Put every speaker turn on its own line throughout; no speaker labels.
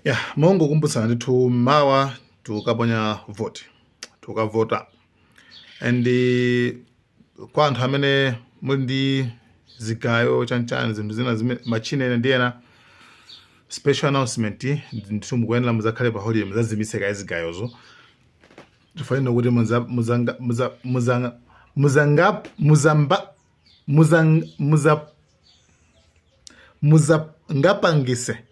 ya mongokumbutsana ndithu mawa tukukaponya vote tukukavota and eh, kwa anthu amene muli ndi zigayo chanchani zinthu zina zimene machine ena ndiye special announcement ndithu mukuyenera muzakhale pa holiday muzazimitse kaye zigayozo sitifuna kuti muza- muzanga- muza- muzanga- muzanga- muzamba- muzang- muza- muzangapangise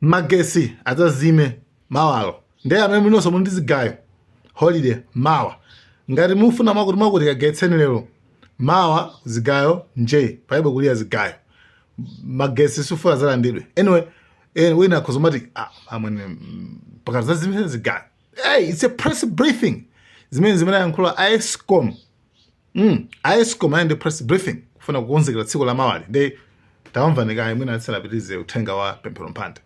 magetsi adzazime mawalo ndiye amene mulinso muli ndi zigayo holiday mawa ngati mufuna mwakuti mwakuti kagayitseni lero mawa zigayo nje palibe kuliza zigayo magetsi sitifuna azalandidwe anyway eh, wina akhoza kumati ah, amwene mm, akuti zazimitseni zigayo hey, it's a press briefing zimene zimene ayankhula a escom Mm, aescom anali ndi press briefing kufuna kukonzekera tsiku la mawali nde tawamvani kaye mwina asanapitirize uthenga wa pemphero mphande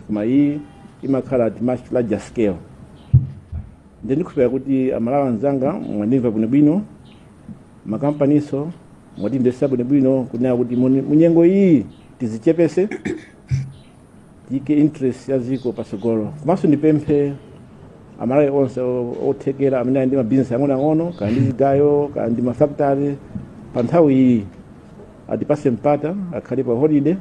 koma iyi
imakhala at much larger scale ndiye ndikhulupira kuti amalawi anzanga mwandimva bwinobwino makampaniso mwatimvetsa bwinobwino kunena kuti muni- munyengo iyi tizichepese tiyike interest ya dziko patsogolo komanso ndipemphe amalawi onse o- othekera amene ali ndi mabizinesi ang'onoang'ono kaya ali ndi zigayo kaya ali ndi mafakitale pa nthawi iyi atipase mpata akhale pa holiday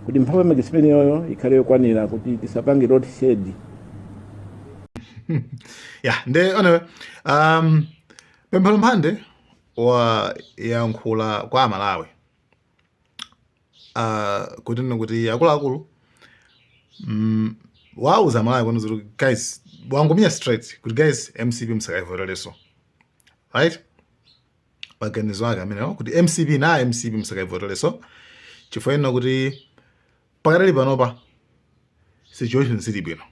kuti mphamvu ya magetsi imeneyoyo ikhale yokwanira kuti tisapange load
shed ya nde anyway um, pemphero mphande wayankhula kwa amalawi uh, kunena kuti akuluakulu mm, wauza amalawi kunena kuti guys wangomenya straight kuti guys mcp msakaivotereso right maganizo ake amenewo kuti mcp na mcp msakaivotereso chifukwa chonena kuti pakadali panopa situation sili bwino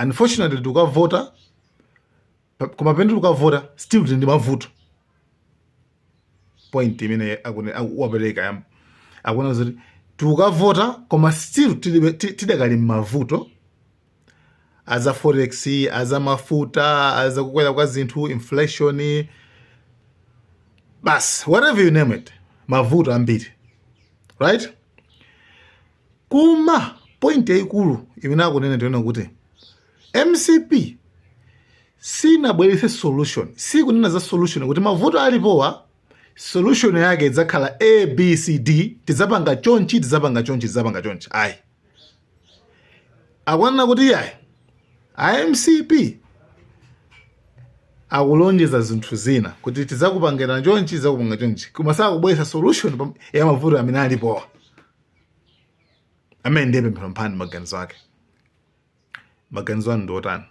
unfortunately tukukavota Pa- koma pamene tikukavota still tili ndi mavuto point imene akune- aku- wapereka yam- akunena zoti tikukavota koma still tilibe- ti- tidakali mmavuto aza forex aza mafuta aza kukwera kwa zinthu inflation basi whatever you name it mavuto ambiri right Koma point yaikulu imene akunena ndi yonena kuti mcp sinabweretse solution, sikunena za solution kuti mavuto alipowa solution yake idzakhala abcd tidzapanga chonchi tidzapanga chonchi tidzapanga chonchi ayi akunena kuti iyayi a mcp akulonjeza zinthu zina kuti tidzakupangira chonchi tidzakupanga chonchi koma sakubweretsa solution ya mavuto amene alipowa amene ndi Pemphero mphani maganizo ake maganizo anu ndi otani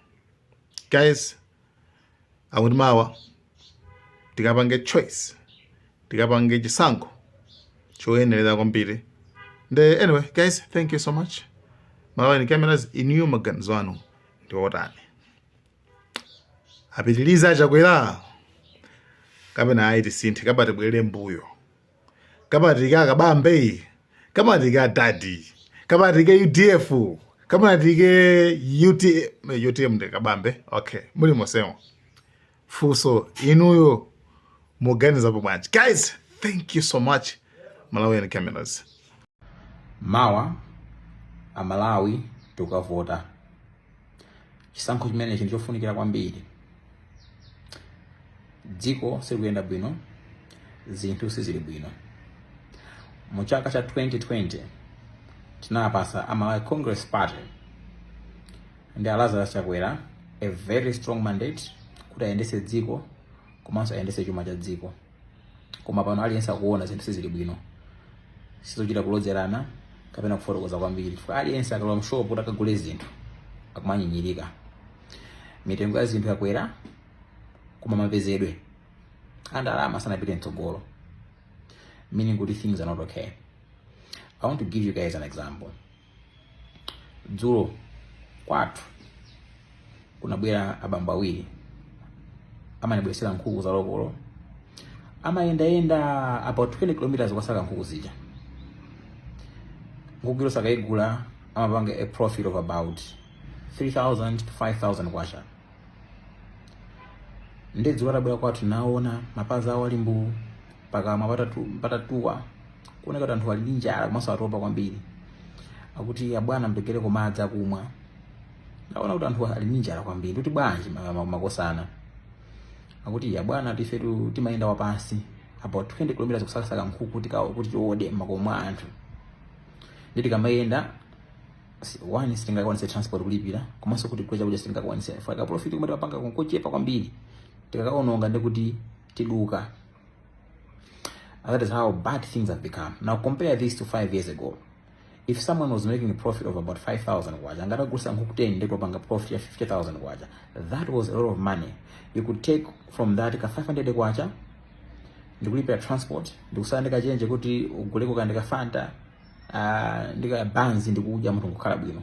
guys akuti mawa tikapange choice tikapange chisankho choyenerera kwambiri nde anyway guys thank you so much malawi cameras inuyo maganizo anu ndi otani apitilize a Chakwera kapena ayi tisinthe kapena tibwerere mbuyo kamatike akabambe kamatike adadi kamatike udf kamatike utm utm ndi kabambe okay muli mosemo fuso inuyo muganizapo bwanji guys thank you so much malawian cameras
Mawa Amalawi tikukavota. Chisankho chimenechi ndichofunikira kwambiri. Dziko silikuyenda bwino, zinthu sizili bwino. Mu chaka cha 2020 tinapasa Amalawi Congress Party ndi a Lazarus Chakwera a very strong mandate kuti ayendese dziko komanso ayendese chuma cha dziko. koma pano aliyense akuona zinthu sizili bwino sizochita kulozerana kapena kufotokoza kwambiri chifukwa aliyense akalowa mshopu kuti akagule zinthu akumanyinyirika mitengo ya zinthu yakwera koma mapezedwe a ndalama sanapite mtsogolo meaning kuti things are not okay i want to give you guys an example dzulo kwathu kunabwera abambo awiri amanibweretsera nkhuku za lokolo amayendayenda about 20 kilometers kukasaka nkhuku zija nkhuku iliyonse akayigula amapanga a profit of about 3000 to 5000 kwacha nde dzulo atabwera kwathu naona mapazi awo ali mbuu pakamwa pata- patatuwa kuoneka kuti anthu ali ndi njala komanso atopa kwambiri akuti abwana mpatseniko madzi akumwa naona kuti anthu ali ndi njala kwambiri kuti bwanji ma- ma- makosana akuti abwana ife tu- timayenda wapansi about 20 km kusakasaka nkhuku kuti ka- kuti tiode m'makomo mwa anthu nde tikamayenda si- one sitingakwanise transport kulipira komanso kuti kudya chakudya sitingakwanise chifukwa ka profit komwe timapanga nkochepa kwambiri tikakaononga ndi kuti tiduka that is how bad things have become now compare this to 5 years ago if someone was making a profit of about 5000 kwacha atangogulitsa nkhuku 10 ndikupanga profit ya 50000 kwacha that was a lot of money you could take from that ka 500 kwacha ndikulipira transport ndikusala ndikachenje kuti uguleko ka- ndi ka Fanta uh, ndika banzi ndikudya munthu nkukhala bwino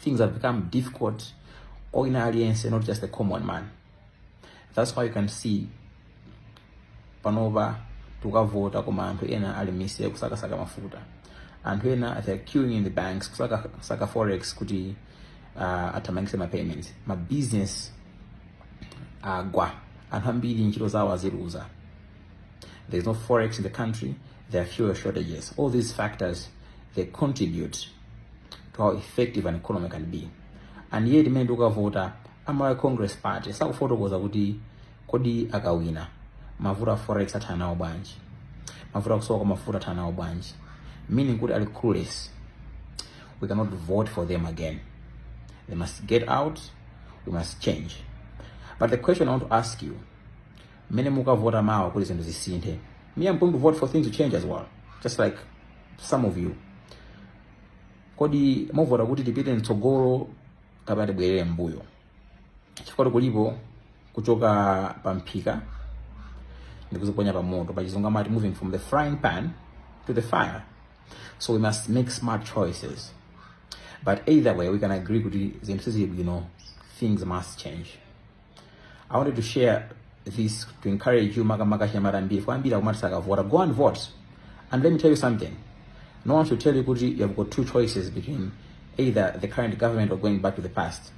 things have become difficult kwa wina aliyense not just the common man That's why you can see panopa tikukavota koma anthu ena ali m'misewu kusakasaka mafuta anthu ena they are queuing in the banks kusaka forex kuti athamangitse ma payments ma business agwa anthu ambiri ntchito zawo aziluza there is no forex in the country there are fuel shortages all these factors they contribute to how effective an economy can be and yet mmene tikukavota a Malawi Congress Party sakufotokoza kuti kodi akawina mavuto a forex athana nawo bwanji, mavuto akusowa kwa mafuta athana nawo bwanji, meaning kuti ali clueless. We cannot vote for them again, they must get out, we must change. But the question I want to ask you, mmene mukavota mawa kuti zinthu zisinthe, me I'm going to vote for things to change as well, just like some of you. Kodi muvota kuti tipite mtsogolo kapena tibwerere mbuyo chifukwa kulipo kuchoka pa mphika ndi kuziponya pa moto pa chizungu amati moving from the frying pan to the fire so we must make smart choices but either way we can agree kuti zinthu sizili bwino things must change I wanted to share this to encourage you makamaka chinyamata mbiri fo ambiri akumati sakavota go and vote and let me tell you something no one should tell you kuti you have got two choices between either the current government or going back to the past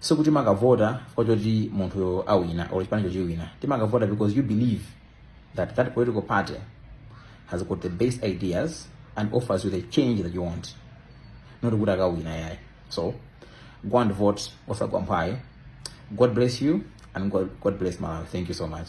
sikuti makavota fo choti munthuyo awina or chipani chochiwina timakavota because you believe that that political party has got the best ideas and offers you the change that you want not kuti akawina yayi so go and vote osagwa mphwayi god bless you and god, god bless malawi thank you so much